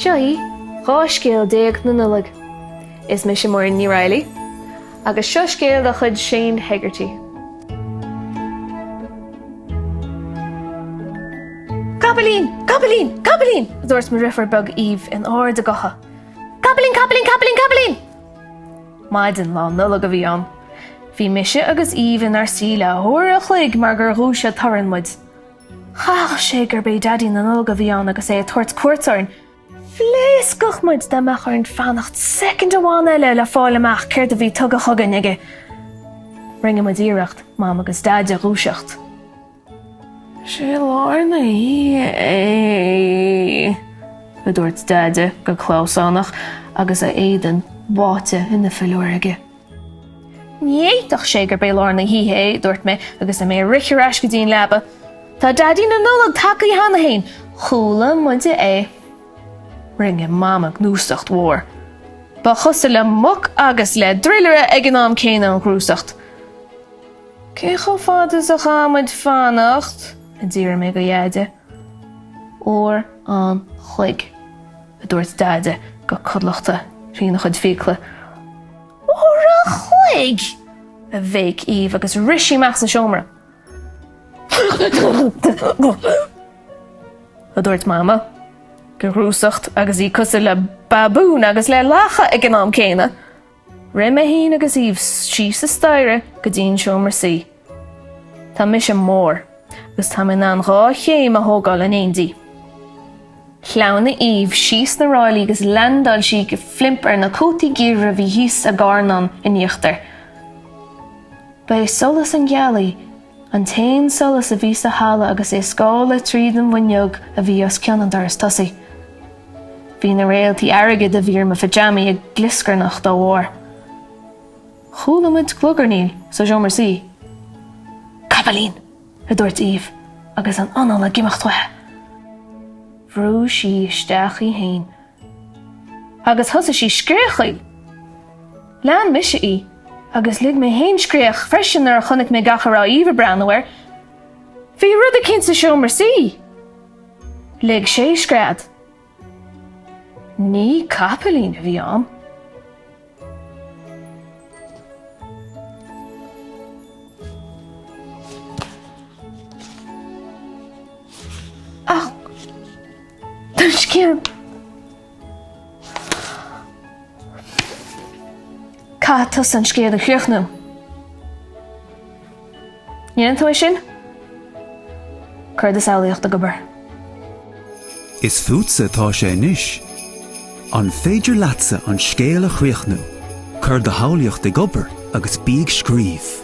Seo í 12 scéal na Nollag. Is mise Muireann Ní Raghallaigh agus seo scéal de chuid Shane Hegarty. Capaillín! Capaillín! Capaillín! a dúirt mo dhriofiúr beag Eve in ard a gutha. Capaillín, capaillín, capaillín, capaillín! Maidin lá Nollag a bhí ann. Bhí mise agus Eve inár suí le huair a chloig mar gur dhúisigh torann muid. Chaithfeadh sé gurb é Daidí na Nollag a bhí ann agus é ag tabhairt cuairt orainn. Phléascfadh muid dá mbeadh orainn fanacht soicind amháin eile le fáil amach céard a bhí tugtha chugainn aige. Rinne muid iarracht Mam agus Daid a dhúiseacht. Is é lár na hoíche é! a dúirt Deaide go clamhsánach agus a éadan báite ina philiúr aige. Ní fhéadfadh sé gurb é lár na hoíche é, a dúirt mé agus mé ag rith ar ais go dtí an leaba. Tá Daidí na Nollag tagtha cheana féin! Chuala muide é. Rinne Mama gnúsacht mhór. Ba chosúil le muc agus le druilire ag an am céanna an ghnúsacht. Cé chomh fada is a chaithfidh muid fanacht? a d'fhiafraigh mé de Dheaide. Uair an chloig, a dúirt Deaide go codlatach trína chuid fiacla. Uair an chloig! a bhéic Eve agus rith sí amach as an seomra. a dúirt Mama de ghnúsacht agus í cosúil le babún agus le lacha ag an am céanna. Rith mé fhéin agus Eve síos an staighre go dtí an seomra suí. Tá mise mór agus tá mé in ann dhá chéim a thógáil in éindí. Shleamhnaigh Eve síos na ráillí agus leaindeáil sí de phlimp ar na cótaí geimhridh a bhí thíos i gcarnán in íochtar. Ba é solas na gealaí An t-aon solas a bhí sa halla agus é ag scaladh tríd an bhfuinneog a bhí os cionn an dorais tosaigh. Bhí na réaltaí airgid a bhí ar mo phitseámaí ag glioscarnach dá bharr. Chuala muid glugarnaíl sa seomra suí. Capaillín! a dúirt Eve agus an anál ag imeacht uaithi. Bhrúigh sí isteach í féin agus thosaigh sí ag scréachaíl. Lean mise í, agus lig mé fhéin scréach freisin nuair a chonaic mé gach a raibh Eve ag breathnú air. Bhí rud eicínt sa seomra suí! Lig sé scread. Ní capaillín a bhí ann. Ach an scéal Caithfidh tusa an scéal a chríochnú? ndéanann tú é sin, cuir do shamhlaíocht ag obair. Is fútsa atá sé anois. An féidir leatsa an scéal a chríochnú? Cuir do shamhlaíocht ag obair agus bí ag scríobh.